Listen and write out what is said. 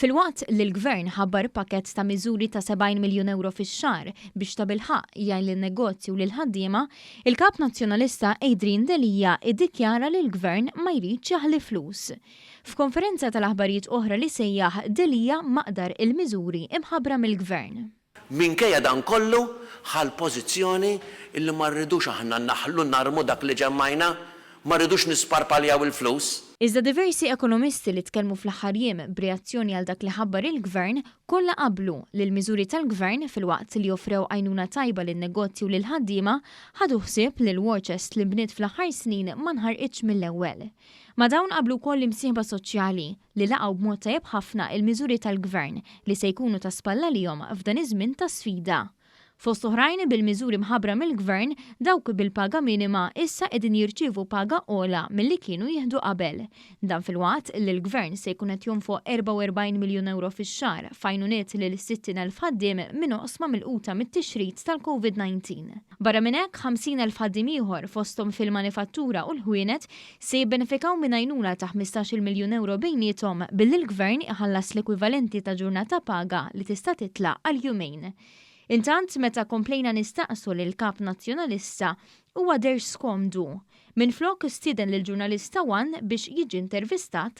Filwaqt li l-Gvern ħabbar pakkett ta' miżuri ta' 70 miljun ewro fix-xahar biex tabilħaqq jgħin lin-negozji u lill-ħaddiema, il-Kap Nazzjonalista Adrian Delia iddikjara li l-Gvern ma jridx jaħli flus. F'konferenza tal-aħbarijiet oħra li sejjaħ, Delia maqdar il-miżuri imħabbra mill-Gvern. Minkejja dan kollu, ħa l-pożizzjoni li ma rridux aħna naħlu narmu dak li ġemmajna, ma rridux nisparpaljaw il-flus. Iżda diversi ekonomisti li tkellmu fl-aħħar jiem b'reazzjoni għal dak li ħabbar il-Gvern, kollha qablu li l-miżuri tal-Gvern, filwaqt li offrew għajnuna tajba lin-negozji u lill-ħaddiema, ħadu ħsieb li l-war chest li nbniet fl-aħħar snin ma nħarqitx mill-ewwel. Ma' dawn qablu wkoll l-imsieħba soċjali, li laqgħu b'mod tajjeb ħafna il-miżuri tal-Gvern li se jkunu ta' spall għalihom f'dan iż-żmien ta' sfida. Fost oħrajn, bil-miżuri mħabbra mill-Gvern, dawk bil-paga minima issa qegħdin jirċievu paga ogħla milli kienu jieħdu qabel. Dan filwaqt li l-Gvern se jkun qed jonfoq 44 miljun ewro fix-xahar f'għajnuniet lil 60 elf ħaddiem minn oqsma milquta mit-tixrid tal-Covid 19. Barra minn hekk, 50 elf ħaddiem ieħor, fosthom fil-manifattura u l-ħwienet, se jibbenefikaw minn għajnuna ta' ħmistax-il miljun ewro bejniethom billi l-Gvern iħallas l-ekwivalenti ta' ġurnata paga li tista' titlaq għal jumejn. Intant, meta komplejna nistaqsu lill-Kap Nazzjonalista, huwa deher skomdu. Minflok, stieden lill-ġurnalista one biex jiġi intervistat,